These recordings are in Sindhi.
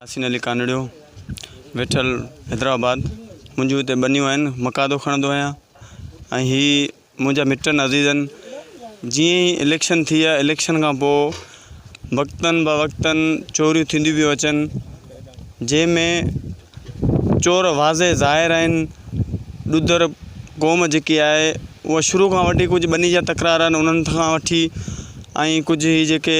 ياسين علي ڪانڊڙيو، ويٺل، حيدرآباد، منهنجون هتي ٻنيون آهن، مقادو کڻندو آهيان ۽ هي منهنجا مٽن عزيزن جيئن ئي اليڪشن ٿي يا اليڪشن کان پوء وقتن با وقتن چوريون ٿينديون پيون اچن جنهن ۾ چور واضح ظاهر آهن ڏودر قوم جيڪي آهي اها شروع کان وٺي ڪجهه ٻني جا تڪرار آهن انهن کان وٺي ۽ ڪجهه هي جيڪي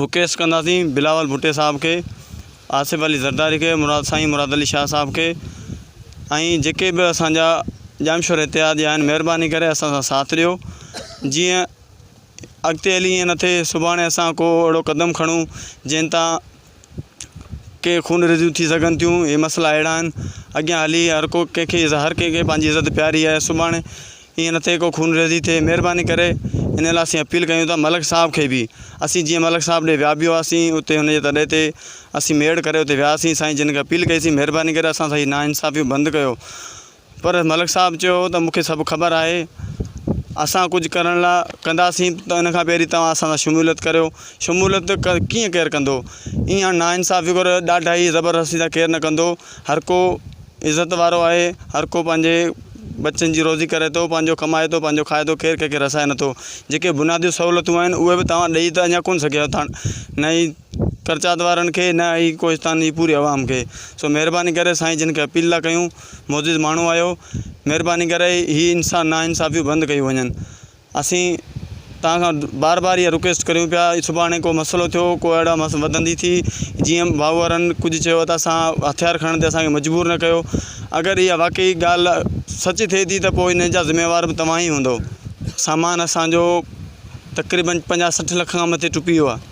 رڪيس ڪنداسين بلاول ڀٽي صاحب کي آصف علي زرداري کي مراد سائين مراد علي شاهه صاحب کي ۽ جيڪي به اسان جا ڄامشور اتحاد جا آهن مهرباني ڪري اسان سان ساٿ ڏيو جيئن اڳتي هلي ائين نه ٿئي سڀاڻي اسان ڪو اهڙو قدم کڻون جنهن تان ڪي خون ريزيون ٿي سگهن ٿيون اهي مسئلا اهڙا آهن اڳيان هلي هر ڪو ڪنهن کي هر ڪنهن کي پنهنجي عزت پياري آهي سڀاڻي ائين نه ٿئي ڪو خون ريزي ٿئي مهرباني ڪري ان لاء اسين اپيل ڪيون ٿا ملڪ صاحب کي به اسين جيئن ملڪ صاحب ڏي ويا به هئاسين اتي هن جي تڏي تي اسين ميڙ ڪري اتي وياسين سائين جن کي اپيل ڪئيسين مهرباني ڪري اسان سان هي نا انصافيون بند ڪيو پر ملڪ صاحب چيو ته مون کي سڀ خبر آهي، اسان ڪجهه ڪرڻ لاء ڪنداسين ته ان کان پهرين توهان اسان سان شموليت ڪريو، شموليت ڪيئن ڪير ڪندو، اها ناانصافي ڪو ڏاڍائي زبردستي سان ڪير نه ڪندو، هر ڪو عزت وارو آهي، هر ڪو پنهنجي ٻچن جي روزي ڪري ٿو، پنهنجو ڪمائي ٿو، پنهنجو کائي ٿو، ڪير ڪنهن کي رسائي نٿو، جيڪي بنيادي سهولتون آهن اهي به توهان ڏئي ته اڃا ڪونه سگهيا آهيو، نه ئي. ڪرچات وارن کي نه اي ڪوهستان جي پوري عوام کي سو مهرباني ڪري سائين جن کي اپيل ٿا ڪيون معزز ماڻهو آهيو مهرباني ڪري هي انسا نا انصافيون بند ڪيون وڃن اسين توهان کان بار بار اها رڪويسٽ ڪريون پيا سڀاڻي ڪو مسئلو ٿيو ڪو اهڙا مس وڌندي ٿي جيئن ڀائو وارن ڪجهه چيو ته اسان هٿيار کڻڻ تي اسان کي مجبور نه ڪيو اگر اها واقعي ڳالهه سچ ٿئي ٿي ته پوء ان جا ذميوار به توهان ئي هوندو سامان اسانجو تقريبن پنجاهه سٺ لک کان مٿي ٽپي ويو آهي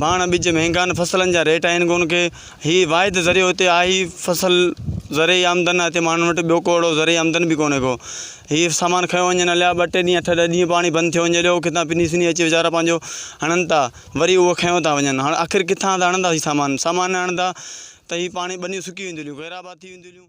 ڀاڻ ٻج مهنگائن فصلن جا ريٽ آهن ڪون ڪي هي واحد ذريعو هتي آهي ئي فصل زرعي آمدن آهي هتي ماڻهن وٽ ٻيو ڪو اهڙو زرعي آمدن به ڪونهي ڪو هي سامان کيو وڃن هليا ٻ ٽي ڏينهن اٺ ڏهه ڏينهن پاڻي بند ٿيو وڃي هليو ڪٿان پني سني اچي ويچارا پنهنجو هڻن ٿا وري اهو کنيو ٿا وڃن هاڻ آخر ڪٿان ٿا هڻندا هي سامان سامان نه هڻندا ته هي پاڻي ٻنيون سڪي وينديون هليون غيرآباد ٿي وينديون هليون